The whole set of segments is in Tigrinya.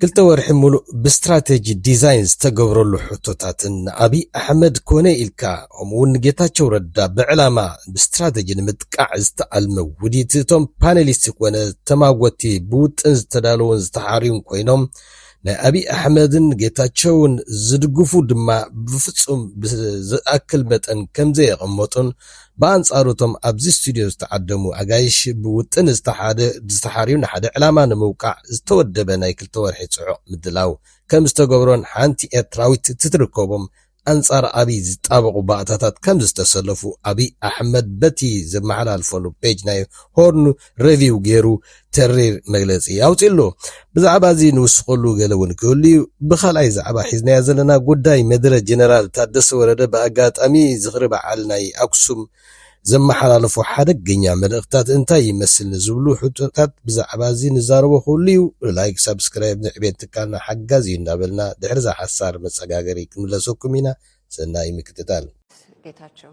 ክልተ ወርሒ ሙሉእ ብስትራቴጂ ዲዛይን ዝተገብረሉ ሕቶታትን ንኣብይ ኣሕመድ ኮነ ኢልካ ከምኡ ውን ንጌታቸው ረዳ ብዕላማ ብስትራቴጂ ንምጥቃዕ ዝተኣልመ ውዲት እቶም ፓነሊስት ኮነ ተማጎቲ ብውጥን ዝተዳለውን ዝተሓርዩን ኮይኖም ናይ ኣብይ ኣሕመድን ጌታቸውን ዝድግፉ ድማ ብፍፁም ብዝኣክል መጠን ከምዘየቐመጡን ብኣንጻሩ እቶም ኣብዚ ስቱድዮ ዝተዓደሙ ኣጋይሽ ብውጥን ዝተሓደ ዝተሓርዩ ንሓደ ዕላማ ንምውቃዕ ዝተወደበ ናይ ክልተ ወርሒ ጽዑቕ ምድላው ከም ዝተገብሮን ሓንቲ ኤርትራዊት ትትርከቦም ኣንጻር ኣብይ ዝጣበቑ ባእታታት ከም ዝተሰለፉ ኣብይ ኣሕመድ በቲ ዘመሓላልፈሉ ፔጅ ናይ ሆርን ረቪው ገይሩ ተሪር መግለጺ ኣውጺኡ ኣሎ። ብዛዕባ እዚ ንውስኸሉ ገለ እውን ክህሉ እዩ። ብካልኣይ ዛዕባ ሒዝናዮ ዘለና ጉዳይ መድረ ጀነራል ታደሰ ወረደ ብኣጋጣሚ ዝኽሪ በዓል ናይ ኣክሱም ዘመሓላለፎ ሓደገኛ መልእኽትታት እንታይ ይመስል ንዝብሉ ሕቶታት ብዛዕባ እዚ ንዛረቦ ክህሉ እዩ። ላይክ ሳብስክራይብ ንዕቤት ትካልና ሓጋዚ እዩ እናበልና ድሕሪ እዛ ሓሳር መጸጋገሪ ክንምለሰኩም ኢና። ሰናይ ምክትታል። ጌታቸው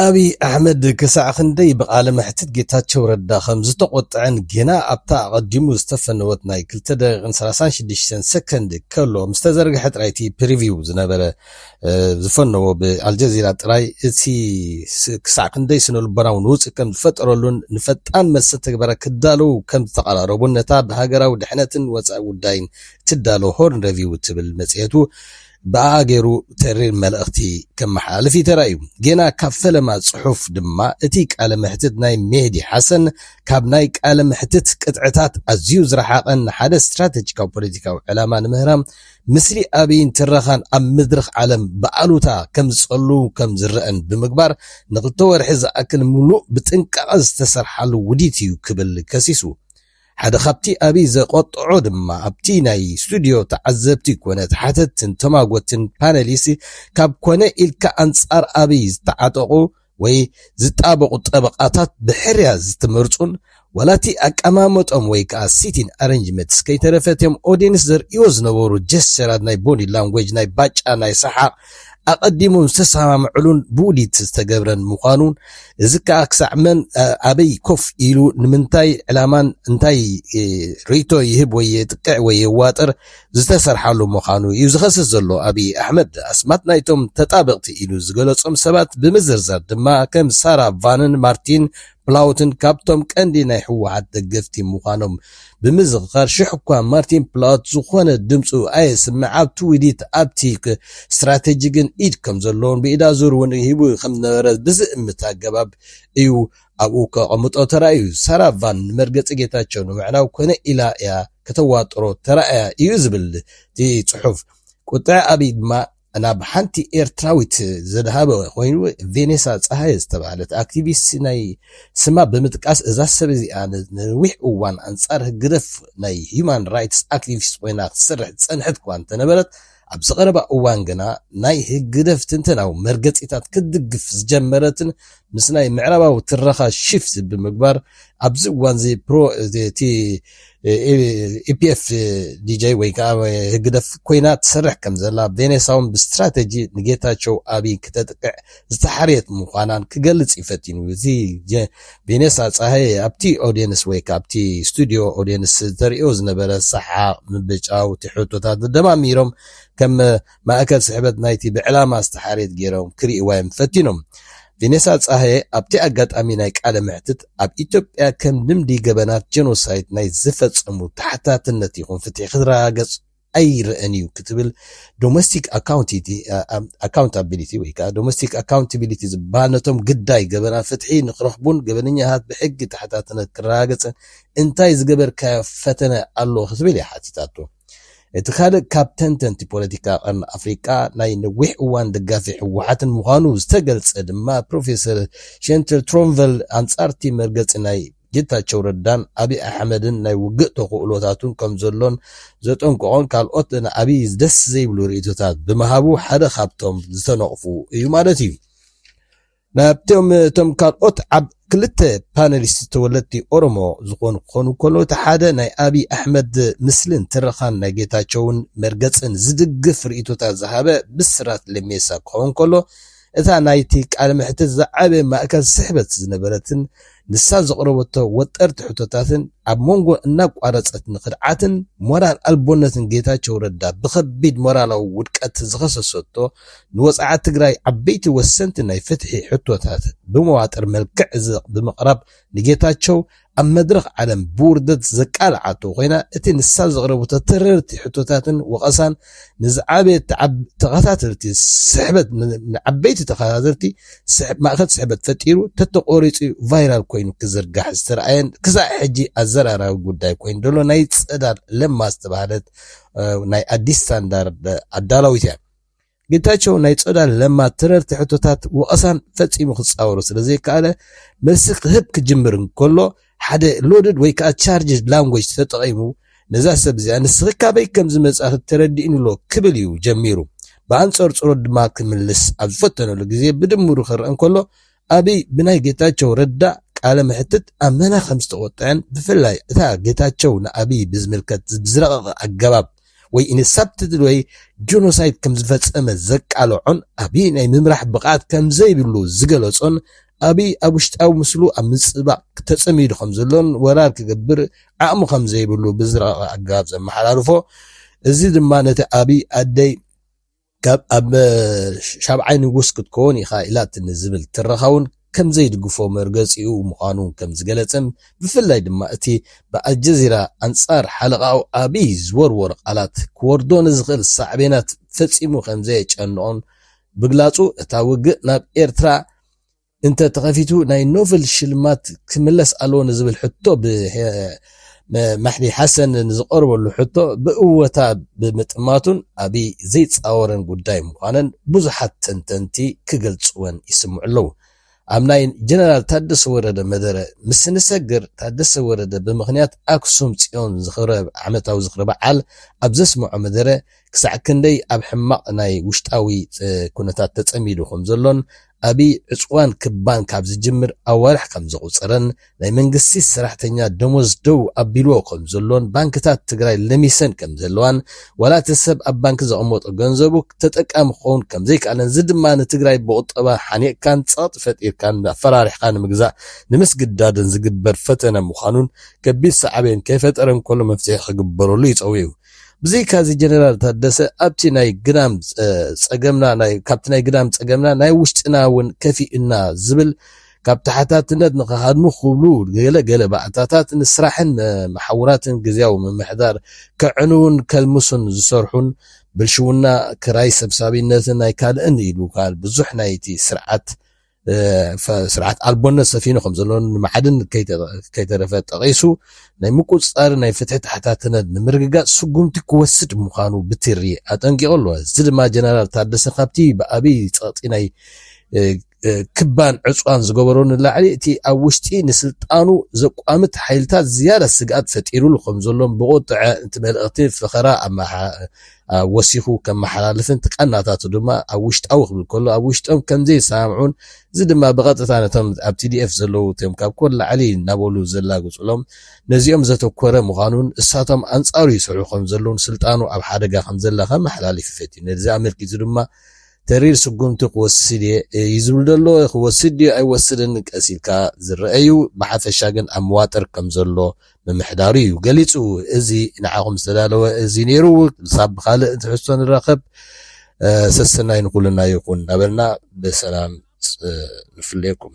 ኣብይ ኣሕመድ ክሳዕ ክንደይ ብቃለ መሕትት ጌታቸው ረዳ ከም ዝተቖጥዐን ጌና ኣብታ ኣቐዲሙ ዝተፈነወት ናይ ክልተ ደቂቕን ሰላሳን ሽዱሽተን ሰከንድ ከሎ ምስ ተዘርግሐ ጥራይ እቲ ፕሪቪው ዝነበረ ዝፈነዎ ብኣልጀዚራ ጥራይ እቲ ክሳዕ ክንደይ ስነ ልቦናዊ ንውፅ ከም ዝፈጠረሉን ንፈጣን መልሲ ተግበረ ክዳለዉ ከም ዝተቐራረቡን ነታ ብሃገራዊ ድሕነትን ወፃኢ ጉዳይን እትዳሎ ሆርን ረቪው እትብል መፅሄቱ ብኣኣ ገይሩ ተሪር መልእኽቲ ከመሓላልፍ እዩ ተራእዩ። ጌና ካብ ፈለማ ጽሑፍ ድማ እቲ ቃለ መሕትት ናይ ሜህዲ ሓሰን ካብ ናይ ቃለ መሕትት ቅጥዕታት ኣዝዩ ዝረሓቐን ንሓደ ስትራተጂካዊ ፖለቲካዊ ዕላማ ንምህራም ምስሊ ኣብይን ትረኻን ኣብ መድረኽ ዓለም ብኣሉታ ከምዝጸሉ ከምዝረእን ብምግባር ንክልተ ወርሒ ዝኣክል ምሉእ ብጥንቃቐ ዝተሰርሓሉ ውዲት እዩ ክብል ከሲሱ። ሓደ ካብቲ ኣብይ ዘቖጠዖ ድማ ኣብቲ ናይ ስቱድዮ ተዓዘብቲ ኮነ ተሓተትቲን ተማጎትን ፓነሊስት ካብ ኮነ ኢልካ ኣንፃር ኣብይ ዝተዓጠቑ ወይ ዝጣበቑ ጠበቓታት ብሕርያ ዝተመርፁን ዋላ እቲ ኣቀማምጦም ወይ ከዓ ሲቲን ኣረንጅመትስ ከይተረፈ እቲም ኦዴንስ ዘርእይዎ ዝነበሩ ጀስቸራት ናይ ቦዲ ላንጉጅ ናይ ባጫ ናይ ሰሓቕ ኣቐዲሙ ዝተሰማምዕሉን ብውዲት ዝተገብረን ምዃኑ፣ እዚ ከኣ ክሳዕ መን ኣበይ ኮፍ ኢሉ ንምንታይ ዕላማን እንታይ ርእይቶ ይህብ ወይ የጥቅዕ ወይ የዋጥር ዝተሰርሓሉ ምዃኑ እዩ ዝኸስስ ዘሎ ኣብይ ኣሕመድ። ኣስማት ናይቶም ተጣበቕቲ ኢሉ ዝገለጾም ሰባት ብምዝርዛር ድማ ከም ሳራ ቫንን ማርቲን ፕላውትን ካብቶም ቀንዲ ናይ ህወሓት ደገፍቲ ምዃኖም ብምዝኽኻር ሽሕ'ኳ ማርቲን ፕላውት ዝኾነ ድምጹ ኣየስምዕ ኣብ ትዊዲት ኣብቲ ስትራቴጂ ግን ኢድ ከምዘለዎን ብኢዳ ዙር'ውን ሂቡ ከምዝነበረ ብዝእምት ኣገባብ እዩ ኣብኡ ከቐምጦ ተራእዩ። ሳራ ቫን ንመርገጺ ጌታቸው ንምዕናው ኮነ ኢላ እያ ከተዋጥሮ ተራእያ እዩ ዝብል እቲ ጽሑፍ። ቁጥዐ ኣብይ ድማ፣ ናብ ሓንቲ ኤርትራዊት ዘድሃበ ኮይኑ ቬኔሳ ጸሃየ ዝተባህለት ኣክቲቪስት ናይ ስማ ብምጥቃስ እዛ ሰብ እዚኣ ንነዊሕ እዋን ኣንጻር ህግደፍ ናይ ሂዩማን ራይትስ ኣክቲቪስት ኮይና ክትሰርሕ ዝጸንሐት እኳ እንተነበረት ኣብዚ ቀረባ እዋን ግና ናይ ህግደፍ ትንተናዊ መርገጺታት ክትድግፍ ዝጀመረትን ምስ ናይ ምዕራባዊ ትረኻ ሽፍት ብምግባር ኣብዚ እዋንዚ ፕሮ እቲ ኢፒኤፍ ዲጀይ ወይ ከዓ ህግደፍ ኮይና ትሰርሕ ከም ዘላ ቬኔሳውን ብስትራተጂ ንጌታቸው ኣብይ ክተጥቅዕ ዝተሓርየት ምዃናን ክገልጽ እዩ ፈቲኑ እዚ ቬኔሳ ፀሃየ ኣብቲ ኦዲየንስ ወይ ከዓ ኣብቲ ስቱዲዮ ኦዲየንስ ተርእዮ ዝነበረ ሰሓቕ ምብጫው እቲ ሕቶታት ደማሚሮም ከም ማእከል ስሕበት ናይቲ ብዕላማ ዝተሓርየት ገይሮም ክርእይዋ'ዮም ፈቲኖም። ቬኔሳ ጸሃየ ኣብቲ ኣጋጣሚ ናይ ቃለ መሕትት፣ ኣብ ኢትዮጵያ ከም ልምዲ ገበናት ጀኖሳይድ ናይ ዝፈጸሙ ተሓታትነት ይኹን ፍትሒ ክረጋገጽ ኣይረኣን'ዩ ክትብል ዶመስቲክ ኣካውንታቢሊቲ ወይከኣ ዶመስቲክ ኣካውንታቢሊቲ ዝበሃል ነቶም ግዳይ ገበናት ፍትሒ ንክረኽቡን ገበነኛታት ብሕጊ ተሓታትነት ክረጋገጽን እንታይ ዝገበርካዮ ፈተነ ኣሎ ክትብል እያ ሓቲታቶ። እቲ ካልእ ካብ ተንተንቲ ፖለቲካ ቀርኒ ኣፍሪቃ ናይ ነዊሕ እዋን ደጋፊ ህወሓትን ምዃኑ ዝተገልጸ ድማ ፕሮፌሰር ሸንትር ትሮንቨል ኣንጻርቲ መርገጺ ናይ ጌታቸው ረዳን ኣብይ ኣሕመድን ናይ ውግእ ተኽእሎታቱን ከምዘሎን ዘጠንቀቖን ካልኦት ንኣብይ ደስ ዘይብሉ ርእይቶታት ብምሃቡ ሓደ ካብቶም ዝተነቕፉ እዩ ማለት እዩ። ናብቶም እቶም ካልኦት ዓብ ክልተ ፓነሊስት ተወለድቲ ኦሮሞ ዝኾኑ ክኾኑ ከለው እቲ ሓደ ናይ ኣብይ ኣሕመድ ምስልን ትረኻን ናይ ጌታቸውን መርገፅን ዝድግፍ ርኢቶታት ዝሃበ ብስራት ለሜሳ ክኸውን ከሎ እታ ናይቲ ቃለ መሕትት ዝዓበየ ማእከል ስሕበት ዝነበረትን ንሳ ዘቕረበቶ ወጠርቲ ሕቶታትን ኣብ ሞንጎ እናቋረጸት ንክድዓትን ሞራል ኣልቦነትን ጌታቸው ረዳ ብከቢድ ሞራላዊ ውድቀት ዝኸሰሰቶ ንወጽዓ ትግራይ ዓበይቲ ወሰንቲ ናይ ፍትሒ ሕቶታት ብመዋጥር መልክዕ ብምቕራብ ንጌታቸው ኣብ መድረኽ ዓለም ብውርደት ዘቃልዓቶ ኮይና እቲ ንሳ ዘቕረበቶ ተረርቲ ሕቶታትን ወቐሳን ንዝዓበየ ተኸታተልቲ ስሕበት ንዓበይቲ ተኸታተልቲ ማእከል ስሕበት ፈጢሩ ተተቖሪጹ ቫይራል ኮይኑ ክዝርጋሕ ዝተርኣየን ክሳዕ ሕጂ ኣዘራራቢ ጉዳይ ኮይኑ ዘሎ ናይ ጸዳል ለማ ዝተባህለት ናይ ኣዲስ ስታንዳርድ ኣዳላዊት እያ። ጌታቸው ናይ ጸዳል ለማ ተረርቲ ሕቶታት ወቐሳን ፈጺሙ ክጻወሩ ስለ ዘይከኣለ መልሲ ክህብ ክጅምር እንከሎ ሓደ ሎድድ ወይ ከኣ ቻርጅድ ላንጎጅ ተጠቒሙ ነዛ ሰብ እዚኣ ንስኺ ካበይ ከም ዝመጻኺ ተረዲኡኒ'ሎ ክብል እዩ ጀሚሩ። ብኣንጸርጽሮት ድማ ክምልስ ኣብ ዝፈተነሉ ግዜ ብድምሩ ክርእ እንከሎ ኣብይ ብናይ ጌታቸው ረዳ ቃለ መሕትት ኣመና ከም ዝተቖጥዐን ብፍላይ እታ ጌታቸው ንኣብይ ብዝምልከት ብዝረቐቐ ኣገባብ ወይ ኢን ሳብትትል ወይ ጆኖሳይድ ከም ዝፈጸመ ዘቃለዖን ኣብይ ናይ ምምራሕ ብቕዓት ከም ዘይብሉ ዝገለጾን ኣቢይ ኣብ ውሽጣዊ ምስሉ ኣብ ምጽባቕ ተጸሚዱ ከምዘሎን ወራር ክገብር ዓቕሚ ከምዘይብሉ ብዝረቐቐ ኣገባብ ዘመሓላልፎ እዚ ድማ ነቲ ኣቢይ ኣደይ ካብ ኣብ ሻብዓይ ንጉስ ክትከውን ኢኻ ኢላትኒ ዝብል ትረኻውን ከምዘይድግፎ መርገጺኡ ምዃኑ ከምዝገለጸን ብፍላይ ድማ እቲ ብኣልጀዚራ ኣንጻር ሓለቓኡ ኣቢይ ዝወርወሮ ቃላት ክወርዶ ንዝኽእል ሳዕቤናት ፈጺሙ ከምዘየጨንቖን ብግላጹ እታ ውግእ ናብ ኤርትራ እንተ ተኸፊቱ ናይ ኖቨል ሽልማት ክምለስ ኣለዎ ንዝብል ሕቶ ብመሕዲ ሓሰን ንዝቐርበሉ ሕቶ ብእወታ ብምጥማቱን ኣብይ ዘይፃወረን ጉዳይ ምዃነን ብዙሓት ተንተንቲ ክገልፅወን ይስምዑ ኣለዉ። ኣብ ናይ ጀነራል ታደሰ ወረደ መደረ ምስ ንሰግር፣ ታደሰ ወረደ ብምኽንያት ኣክሱም ፅዮን ዝኽብረ ዓመታዊ ዝኽሪ በዓል ኣብ ዘስመዖ መደረ፣ ክሳዕ ክንደይ ኣብ ሕማቕ ናይ ውሽጣዊ ኩነታት ተጸሚዱ ከም ዘሎን ኣብይ ዕጽዋን ክባን ካብ ዝጅምር ኣዋርሕ ከም ዘቑጸረን ናይ መንግስቲ ሰራሕተኛ ደሞዝ ደው ኣቢልዎ ከም ዘሎን ባንክታት ትግራይ ለሚሰን ከም ዘለዋን ዋላ እቲ ሰብ ኣብ ባንኪ ዘቐመጦ ገንዘቡ ተጠቃሚ ክኸውን ከም ዘይከኣለን እዚ ድማ ንትግራይ ብቑጠባ ሓኒቕካን ጸቕጢ ፈጢርካን ኣፈራሪሕኻ ንምግዛእ ንምስግዳድን ዝግበር ፈተነ ምዃኑን ከቢድ ሳዕቤን ከይፈጠረ እንከሎ መፍትሒ ክግበረሉ ይጸውዑ። ብዘይካዚ ጀነራል ታደሰ ኣብቲ ናይ ግዳም ፀገምና ናይ ካብቲ ናይ ግዳም ፀገምና ናይ ውሽጥና እውን ከፊኡና ዝብል ካብ ተሓታትነት ንክሃድሙ ክብሉ ገለ ገለ ባእታታት ንስራሕን መሓውራትን ግዝያዊ ምምሕዳር ከዕንውን ከልምሱን ዝሰርሑን ብልሽውና ክራይ ሰብሳቢነትን ናይ ካልእን ኢሉ ካል ብዙሕ ናይቲ ስርዓት ስርዓት ኣልቦነት ሰፊኑ ከም ዘሎ ንመዓድን ከይተረፈ ጠቒሱ ናይ ምቁፅፃር ናይ ፍትሒ ተሓታትነት ንምርግጋፅ ስጉምቲ ክወስድ ምዃኑ ብትሪ ኣጠንቂቑ ኣሎ። እዚ ድማ ጀነራል ታደሰ ካብቲ ብኣብይ ፀቕጢ ናይ ክባን ዕፅዋን ዝገበሮ ንላዕሊ እቲ ኣብ ውሽጢ ንስልጣኑ ዘቋምት ሓይልታት ዝያዳ ስግኣት ፈጢሩሉ ከም ዘሎን ብቑጥዐ እቲ መልእኽቲ ፈኸራ ወሲኹ ከመሓላልፍን እቲ ቃናታቱ ድማ ኣብ ውሽጣዊ ክብል ከሎ ኣብ ውሽጦም ከምዘይሰማምዑን እዚ ድማ ብቐጥታ ነቶም ኣብ ቲዲኤፍ ዘለዉ እቶም ካብ ኮር ላዕሊ እናበሉ ዘላግጹሎም ነዚኦም ዘተኮረ ምዃኑን እሳቶም ኣንጻሩ ይሰርሑ ከምዘለዉን ስልጣኑ ኣብ ሓደጋ ከምዘላ ከመሓላልፍ ይፈትዩ ነዚ ኣመልኪቱ ድማ ተሪር ስጉምቲ ክወስድ እየ እዩ ዝብል ዘሎ ክወስድ ድዩ ኣይወስድን ቀስ ኢልካ ዝረአ እዩ ብሓፈሻ ግን ኣብ መዋጥር ከም ዘሎ ምምሕዳሩ እዩ ገሊጹ። እዚ ንዓኹም ዝተዳለወ እዚ ነይሩ፣ ክሳብ ብኻልእ ትሕዝቶ ንራኸብ ሰሰናዩ ንኹልና ይኹን እናበልና ብሰላም ንፍለየኩም።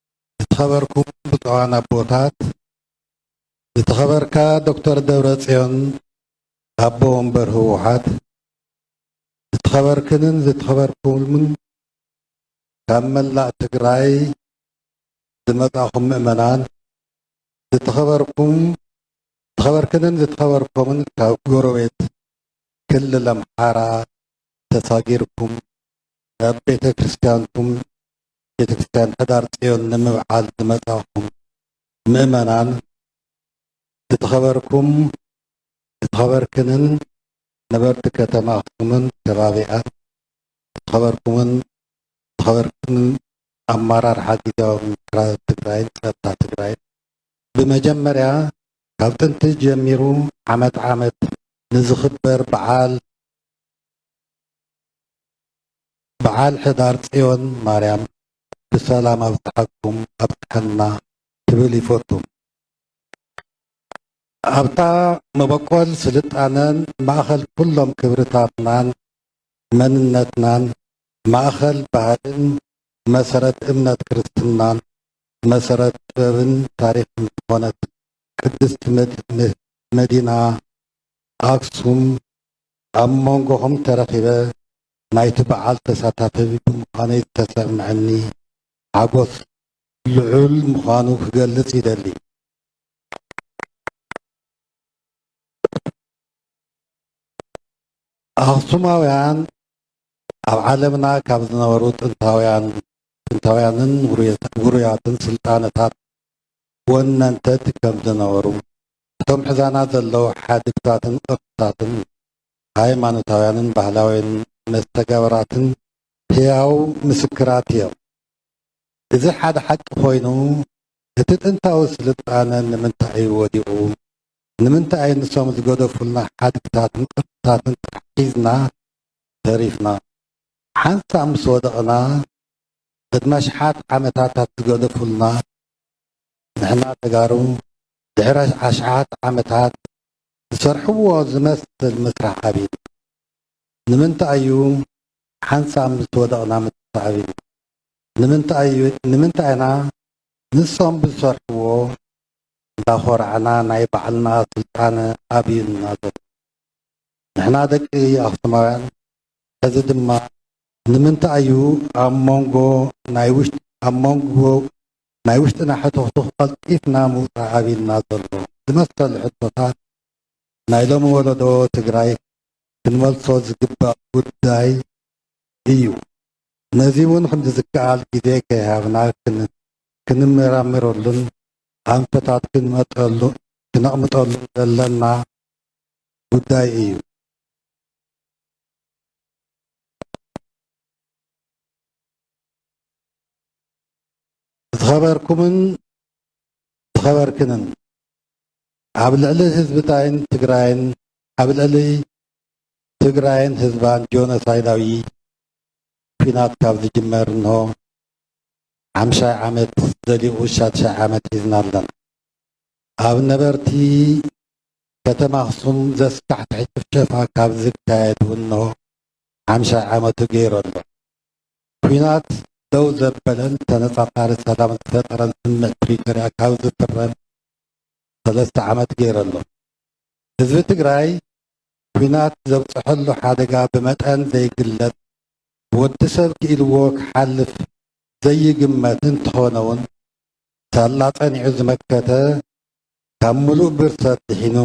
ዝተኸበርኩም ብፁዓን ኣቦታት፣ ዝተኸበርካ ዶክተር ደብረፅዮን ኣቦ ወንበር ህወሓት፣ ዝተኸበርክንን ዝተኸበርኩምን ካብ መላእ ትግራይ ዝመፃእኹም ምእመናን፣ ዝተኸበርኩም ዝተኸበርክንን ዝተኸበርኩምን ካብ ጎረቤት ክልል ኣምሓራ ተሳጊርኩም ናብ ቤተ ክርስቲያንኩም ቤተክርስቲያን ሕዳር ፅዮን ንምብዓል ዝመፃኹም ምእመናን ዝተኸበርኩም ዝተኸበርክንን ነበርቲ ከተማ ኣክሱምን ከባቢኣን ዝተኸበርኩምን ዝተኸበርክንን ኣመራርሓ ጊዜያዊ ምምሕዳር ትግራይን ፀጥታ ትግራይን ብመጀመርያ ካብ ጥንቲ ጀሚሩ ዓመት ዓመት ንዝኽበር በዓል በዓል ሕዳር ፅዮን ማርያም ብሰላም ኣብፀሐኩም ኣብፀሐና ክብል ይፎቱ። ኣብታ መበቆል ስልጣነን ማእኸል ኩሎም ክብርታትናን መንነትናን ማእኸል ባህልን መሰረት እምነት ክርስትናን መሰረት ጥበብን ታሪኽን ዝኾነት ቅድስቲ መዲና ኣክሱም ኣብ ሞንጎኹም ተረኺበ ናይቲ በዓል ተሳታፊ ብምዃነይ ዝተሰምዐኒ ሓጎስ ልዑል ምዃኑ ክገልጽ ይደሊ። ኣኽሱማውያን ኣብ ዓለምና ካብ ዝነበሩ ጥንታውያን ጥንታውያንን ውሩያትን ስልጣነታት ወነንተት ከም ዝነበሩ እቶም ሕዛና ዘለዉ ሓድግታትን ቅርስታትን ሃይማኖታውያንን ባህላውያንን መስተጋብራትን ህያው ምስክራት እዮም። እዚ ሓደ ሓቂ ኮይኑ እቲ ጥንታዊ ስልጣነ ንምንታይ እዩ ወዲቑ? ንምንታይ እዩ ንሶም ዝገደፉልና ሓድግታትን ቅርስታትን ጥራሕ ሒዝና ተሪፍና? ሓንሳብ ምስ ወደቕና ቅድሚ ኣሽሓት ዓመታታት ዝገደፉልና ንሕና ተጋሩ ድሕሪ ኣሽሓት ዓመታት ዝሰርሕዎ ዝመስል ምስራሕ ኣብዩ። ንምንታይ እዩ ሓንሳብ ምስ ወደቕና ምትሳእ ኣብዩ? ንምንታይ ኢና ንሶም ብዝሰርሕዎ እንዳኾራዕና ናይ ባዕልና ስልጣነ ኣብዩና ዘሎ? ንሕና ደቂ ኣኽሱማውያን ሕዚ ድማ ንምንታይ እዩ ኣብ መንጎ ናይ ውሽጢ ኣብ መንጎ ናይ ውሽጥና ሕቱኽቱኽ ቐልጢፍና ምውፃእ ኣብዩና ዘሎ ዝመሰሉ ሕቶታት ናይ ሎሚ ወለዶ ትግራይ ክንመልሶ ዝግባእ ጉዳይ እዩ። ነዚ እውን ክንዲ ዝከኣል ግዜ ከይሃብና ክንመራመረሉን ኣንፈታት ክነቕምጠሉን ዘለና ጉዳይ እዩ። ዝኸበርኩምን ዝኸበርክንን ኣብ ልዕሊ ህዝብታይን ትግራይን ኣብ ልዕሊ ትግራይን ህዝባን ጆኖሳይዳዊ ኩናት ካብ ዝጅመር እንሆ ሓምሻይ ዓመት ዘሊኡ ሻድሻይ ዓመት ሒዝና ኣለና። ኣብ ነበርቲ ከተማ ኣኽሱም ዘስካሕክሕ ጭፍጨፋ ካብ ዝካየድ እንሆ ሓምሻይ ዓመቱ ገይሩ ኣሎ። ኲናት ደው ዘበለን ተነፃፃሪ ሰላም ዝፈጠረን ስምምዕ ፕሪቶርያ ካብ ዝፍረም ሰለስተ ዓመት ገይሩ ኣሎ። ህዝቢ ትግራይ ኲናት ዘብፀሐሉ ሓደጋ ብመጠን ዘይግለፅ ብወዲ ሰብ ክኢልዎ ክሓልፍ ዘይግመት እንተኾነውን ሳላ ፀኒዑ ዝመከተ ካብ ሙሉእ ብርሰት ድሒኑ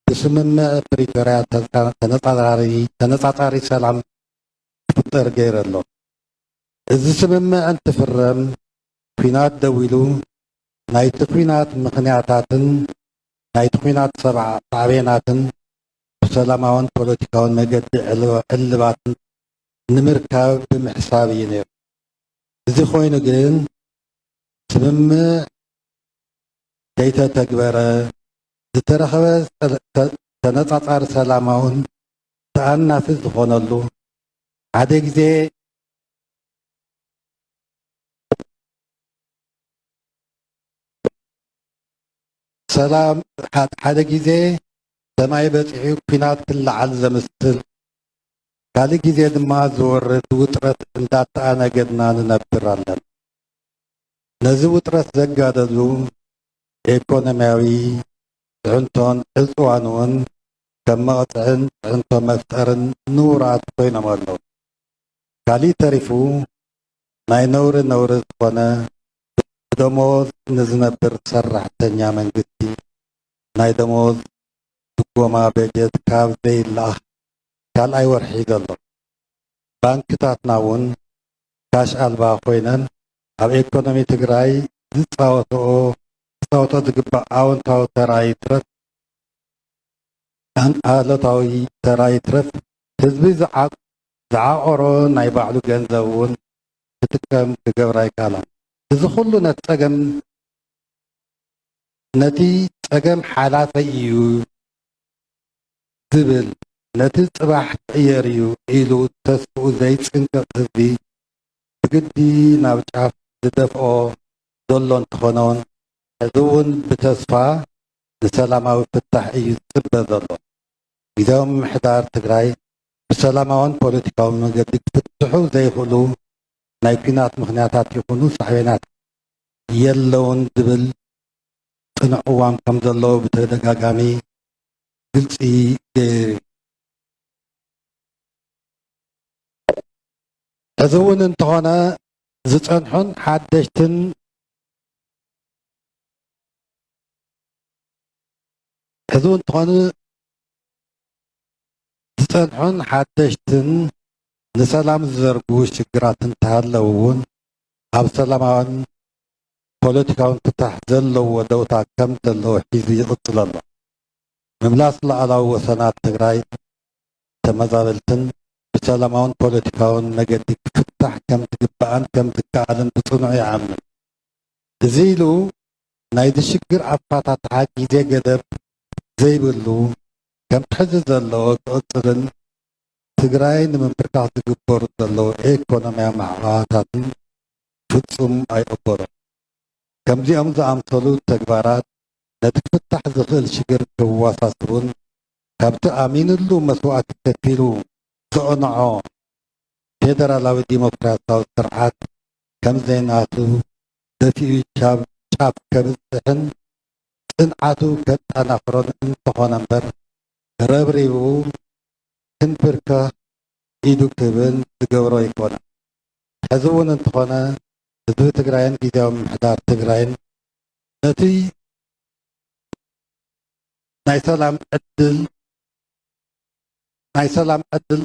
ብስምምዕ ፕሪቶርያ ተነፃፃሪ ሰላም ክፍጠር ገይረ ኣሎ። እዚ ስምምዕ እንትፍረም ኲናት ደው ኢሉ ናይቲ ኲናት ምኽንያታትን ናይቲ ኲናት ሳዕቤናትን ብሰላማውን ፖለቲካውን መገዲ ዕልባት ንምርካብ ብምሕሳብ እዩ ነይሩ። እዚ ኮይኑ ግን ስምምዕ ከይተተግበረ ዝተረኸበ ተነፃፃሪ ሰላማውን ተኣናፊ ዝኾነሉ ሓደ ግዜ ሰላም ሓደ ግዜ ሰማይ በፂሑ ኩናት ክለዓል ዘምስል ካልእ ግዜ ድማ ዝወርድ ውጥረት እንዳተኣናገድና ንነብር ኣለና። ነዚ ውጥረት ዘጋደሉ ኢኮኖሚያዊ ፅዕንቶን ዕፅዋን እውን ከም መቕጽዕን ፅዕንቶ መፍጠርን ንውራት ኮይኖም ኣለዉ። ካሊእ ተሪፉ ናይ ነውሪ ነውሪ ዝኾነ ብደመወዝ ንዝነብር ሰራሕተኛ መንግስቲ ናይ ደመወዝ ድጎማ በጀት ካብ ዘይለኣኽ ካልኣይ ወርሒ ሒዙ ኣሎ። ባንክታትና እውን ካሽ ኣልባ ኮይነን ኣብ ኤኮኖሚ ትግራይ ዝፃወተኦ ክፃወተኦ ዝግባእ ኣወንታዊ ተራ ይትረፍ ኣሉታዊ ተራ ይትረፍ ህዝቢ ዝዓቖሮ ናይ ባዕሉ ገንዘብ እውን ክጥቀም ክገብር ኣይከኣላን። እዚ ኩሉ ነቲ ጸገም ነቲ ጸገም ሓላፈይ እዩ ዝብል ነቲ ጽባሕ ክቕየር እዩ ኢሉ ተስፍኡ ዘይጽንቅቕ ህዝቢ ብግዲ ናብ ጫፍ ዝደፍኦ ዘሎ እንተኾነውን ሕዚ እውን ብተስፋ ንሰላማዊ ፍታሕ እዩ ዝፅበ ዘሎ። ጊዚያዊ ምምሕዳር ትግራይ ብሰላማውን ፖለቲካውን መንገዲ ክፍትሑ ዘይኽእሉ ናይ ኲናት ምኽንያታት ይኹኑ ሳዕቤናት የለውን ዝብል ፅኑዕ ቅዋም ከምዘለዎ ብተደጋጋሚ ግልፂ ገይሩ እዩ። ሕዚ እውን እንተኾነ ዝፀንሑን ሓደሽትን ሕዚ እውን ትኾኑ ዝፀንሑን ሓደሽትን ንሰላም ዝዘርጉ ሽግራት እንተሃለው እውን ኣብ ሰላማዊን ፖለቲካውን ፍታሕ ዘለዎ ደውታ ከም ዘለዎ ሒዙ ይቕፅል ኣሎ። ምምላስ ሉዓላዊ ወሰናት ትግራይ ተመዛበልትን ብሰላማውን ፖለቲካውን መገዲ ክፍታሕ ከም ዝግባእን ከም ዝከኣልን ብፅኑዕ ይኣምን። እዚ ኢሉ ናይዚ ሽግር ኣፋታትሓ ግዜ ገደብ ዘይብሉ ከምቲ ሕዚ ዘሎ ክቕፅልን ትግራይ ንምምብርካኽ ዝግበሩ ዘለዉ ኤኮኖሚያዊ ማዕቐባታትን ፍፁም ኣይቕበሎን። ከምዚኦም ዝኣምሰሉ ተግባራት ነቲ ክፍታሕ ዝኽእል ሽግር ከዋሳስቡን ካብቲ ኣሚንሉ መስዋእቲ ከፊሉ ዘቕንዖ ፌደራላዊ ዲሞክራሲያዊ ስርዓት ከምዘይናቱ ደፊኡ ቻብ ጫፍ ከብጽሕን ጽንዓቱ ከጣናኽሮን እንተኾነምበር ረብሪቡ ክንብርከኽ ኢዱ ክህብን ዝገብሮ ኣይኮነን። ሕዚ እውን እንተኾነ ህዝቢ ትግራይን ጊዚያዊ ምምሕዳር ትግራይን ነቲ ናይ ሰላም ዕድል፣ ናይ ሰላም ዕድል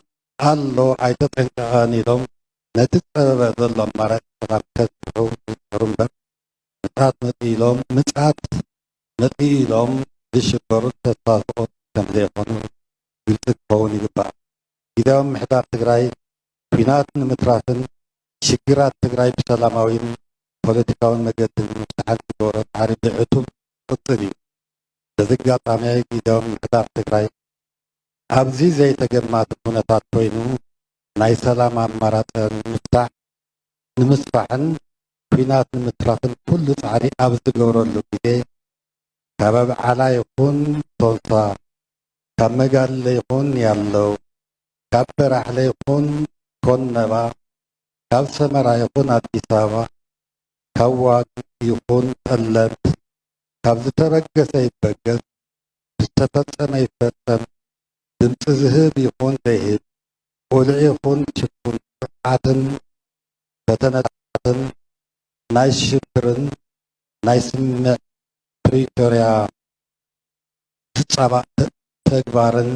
ኣሎ ኣይተጠንቀቐን ኢሎም ነቲ ዝፀበበ ዘሎ ኣማራፂ ሰላም ከፅንዑ ይፅዕሩ እምበር ምፅኣት መፂኡ ኢሎም ምፅኣት መፂኡ ኢሎም ዝሽበሩን ተስፋ ዝቖርፁን ከምዘይኾኑ ግልፂ ክኸውን ይግባእ። ጊዚያዊ ምምሕዳር ትግራይ ኲናት ንምትራፍን ሽግራት ትግራይ ብሰላማዊን ፖለቲካዊን መገዲ ንምፍታሕን ዝገብሮ ፃዕሪ ብዕቱብ ክቕፅል ኢዩ። በዚ ኣጋጣሚ ጊዚያዊ ምምሕዳር ትግራይ ኣብዚ ዘይተገማቲ ኩነታት ኮይኑ ናይ ሰላም ኣማራፂ ንምፍታሕ፣ ንምስፋሕን ኲናት ንምትራፍን ኩሉ ፃዕሪ ኣብ ዝገብረሉ ግዜ ካብ ኣብዓላ ይኹን ቶንሳ፣ ካብ መጋልለ ይኹን ያለው፣ ካብ በራሕለ ይኹን ኮነባ፣ ካብ ሰመራ ይኹን ኣዲስ ኣበባ፣ ካብ ዋግ ይኹን ጠለምት ካብ ዝተበገሰ ይበገስ፣ ዝተፈፀመ ይፈፀም ድምፂ ዝህብ ይኹን ዘይህብ ቁልዕ ይኹን ሽፉን ጥፍኣትን ፈተነታትን ናይ ሽብርን ናይ ስምምዕ ፕሪቶርያ ፍፃማት ተግባርን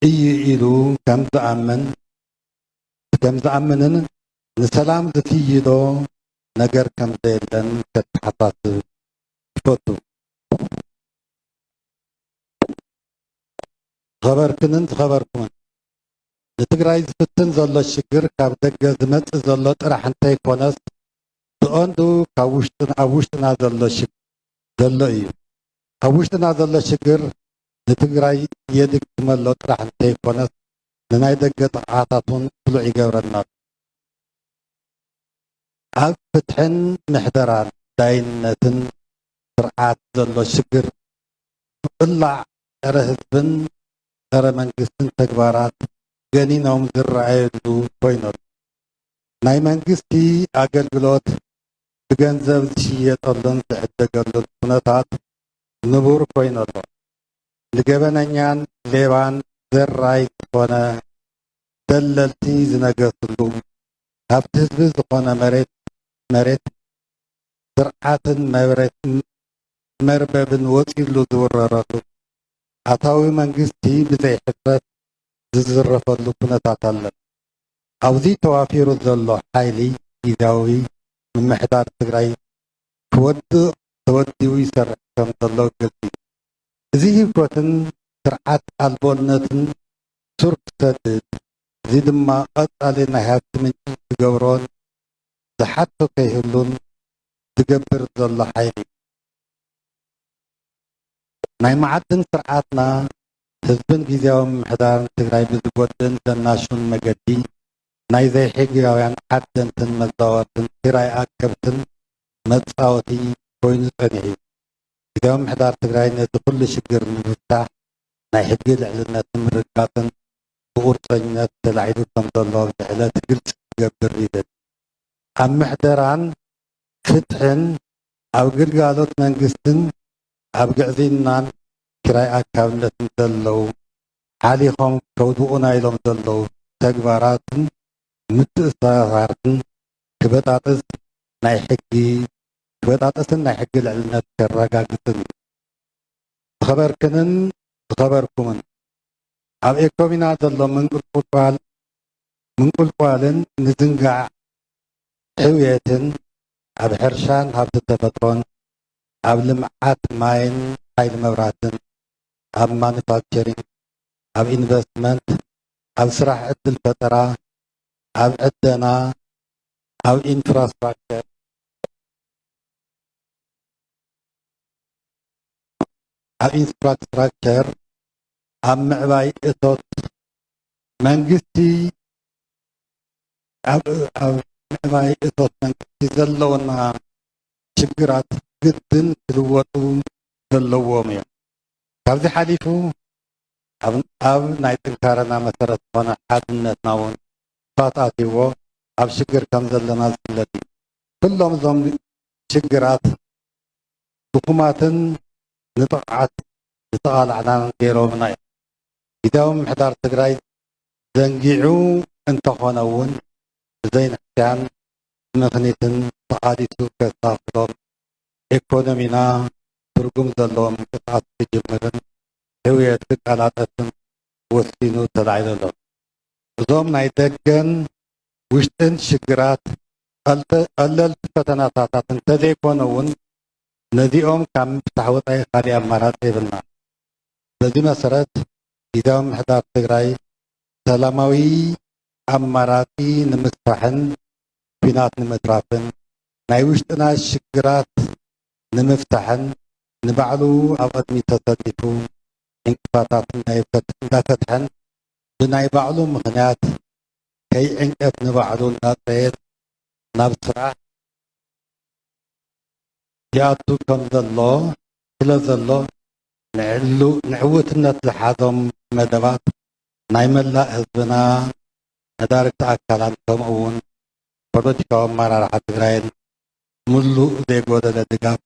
እዩ ኢሉ ከምዝኣምን ከምዝኣምንን ንሰላም ዝፍይዶ ነገር ከምዘየለን ከተሓሳስብ ይፈቱ። ዝኸበርክንን ዝኸበርኩምን ንትግራይ ዝፍትን ዘሎ ሽግር ካብ ደገ ዝመፅእ ዘሎ ጥራሕ እንተይኮነስ ብቐንዱ ካብ ውሽጢ ኣብ ውሽጥና ዘሎ ሽግር ዘሎ እዩ። ካብ ውሽጥና ዘሎ ሽግር ንትግራይ የድክመሎ ጥራሕ እንተይኮነስ ንናይ ደገ ጥቕዓታት እውን ስሉዕ ይገብረና ኣሎ። ኣብ ፍትሕን ምሕደራን ዳይነትን ስርዓት ዘሎ ሽግር ብቅላዕ ፀረ ህዝብን ፀረ መንግስትን ተግባራት ገኒኖም ዝረኣየሉ ኮይኑ ኣሎ። ናይ መንግስቲ ኣገልግሎት ብገንዘብ ዝሽየጠሉን ዝዕደገሉን ኩነታት ንቡር ኮይኑ ኣሎ። ንገበነኛን ሌባን ዘራይ ዝኾነ ደለልቲ ዝነገስሉ ሃብቲ ህዝቢ ዝኾነ መሬት ስርዓትን መርበብን ወፂኡሉ ዝውረረሉ፣ ኣታዊ መንግስቲ ብዘይ ሕፍረት ዝዝረፈሉ ኩነታት ኣሎ። ኣብዚ ተዋፊሩ ዘሎ ሓይሊ ጊዚያዊ ምምሕዳር ትግራይ ክወድቕ ተወዲቡ ይሰርሕ ከም ዘሎ ግልፂ እዩ። እዚ ህይወትን ስርዓት ኣልቦነትን ሱር ክሰድድ እዚ ድማ ቐፃሊ ናይ ሃፍቲ ምንጪ ዝገብሮን ዝሓቶ ከይህሉን ዝገብር ዘሎ ሓይሊ እዩ። ናይ መዓድን ስርዓትና ህዝብን ጊዚያዊ ምምሕዳርን ትግራይ ብዝጎድእን ዘናሹን መገዲ ናይ ዘይሕግያውያን ዓደንትን መዛወርትን ኪራይ ኣከብትን መፃወቲ ኮይኑ ፀኒሑ እዩ። ጊዚያዊ ምምሕዳር ትግራይ ነዚ ኩሉ ሽግር ንምፍታሕ ናይ ሕጊ ልዕልነት ንምርግጋፅን ብቑርፀኝነት ተላዒሉ ከምዘሎ ኣብዚ ዕለት ግልፂ ክገብር ይደሊ። ኣብ ምሕደራን ፍትሕን፣ ኣብ ግልጋሎት መንግስትን ኣብ ግዕዝይናን ኪራይ ኣካብነትን ዘለዉ ሓሊኾም ከውድቑና ኢሎም ዘለዉ ተግባራትን ምትእስሳራትን ክበጣጥስ ናይ ሕጊ ክበጣጥስን ናይ ሕጊ ልዕልነት ከረጋግፅን እዩ። ዝኸበርክንን ዝኸበርኩምን! ኣብ ኤኮሚና ዘሎ ምንቁልቁል ምንቁልቋልን ምዝንጋዕ ሕውየትን ኣብ ሕርሻን ሃብቲ ተፈጥሮን፣ ኣብ ልምዓት ማይን ሓይሊ መብራህትን፣ ኣብ ማኑፋክቸሪንግ፣ ኣብ ኢንቨስትመንት፣ ኣብ ስራሕ ዕድል ፈጠራ፣ ኣብ ዕደና፣ ኣብ ኢንፍራስትራክቸር፣ ኣብ ኢንፍራስትራክቸር፣ ኣብ ምዕባይ እቶት መንግስቲ ኣብ ምዕባይ እቶት መንግስቲ ዘለውና ሽግራት ግድን ክልወጡ ዘለዎም እዮም። ካብዚ ሓሊፉ ኣብ ናይ ጥንካረና መሰረት ዝኾነ ሓድነትና እውን ፋት ኣትዎ ኣብ ሽግር ከም ዘለና ዝፍለጥ እዩ። ኩሎም እዞም ሽግራት ድኹማትን ንጥቕዓት ዝተቓላዕናን ገይሮምና እዮም። ጊዚያዊ ምምሕዳር ትግራይ ዘንጊዑ እንተኾነ እውን ብዘይንሕስያን ብምኽኒትን ተቓሊሱ ከሳፍሎም ኤኮኖሚና ትርጉም ዘለዎ ምንቅስቓስ ክጅምርን ሕውየት ክቀላጠፍን ወሲኑ ተላዒሉ ኣሎ። እዞም ናይ ደገን ውሽጥን ሽግራት ቀለልቲ ፈተናታታት እንተዘይኮኑ እውን ነዚኦም ካብ ምፍታሕ ወፃኢ ካሊእ ኣማራፂ የብልናን። በዚ መሰረት ጊዚያዊ ምምሕዳር ትግራይ ሰላማዊ ኣማራፂ ንምስፋሕን ኲናት ንምትራፍን ናይ ውሽጥና ሽግራት ንምፍታሕን ንባዕሉ ኣብ ቕድሚት ተሰሊፉ ዕንቅፋታት እንዳፈትሐን ብናይ ባዕሉ ምኽንያት ከይዕንቀፍ ንባዕሉ እንዳፅረየን ናብ ስራሕ ያቱ ከም ዘሎ ስለ ዘሎ ንዕውትነት ዝሓዞም መደባት ናይ መላእ ህዝብና መዳርግቲ ኣካላት ከምኡ እውን ፖለቲካዊ ኣመራርሓ ትግራይን ሙሉእ ዘይጎደለ ድጋፍ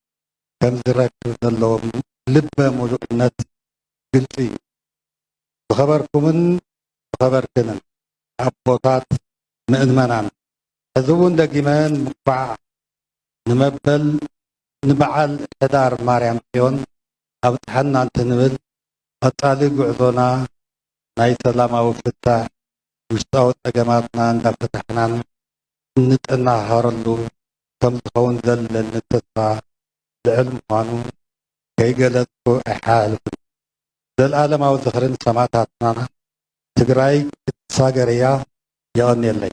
ከም ዝረክብ ዘለዎም ልበ ሙሉእነት ግልፂ እዩ። ዝኸበርኩምን ዝኸበርክንን ኣቦታት ምእመናን ሕዚ እውን ደጊመ እንኳዕ ንመበል ንበዓል ሕዳር ማርያም ጽዮን ኣብጽሐና እንትንብል ቐጻሊ ጉዕዞና ናይ ሰላማዊ ፍታሕ ውሽጣዊ ጸገማትና እንዳፈታሕናን እንጠናሃሃረሉ ከምዝኸውን ዘለኒ ተስፋ ልዕል ምዃኑ ከይገለጽኩ ኣይሓላልፍን ዘልኣለማዊ ዝኽሪ ንሰማእታትና ትግራይ ክትሳገር እያ የቐንየለይ።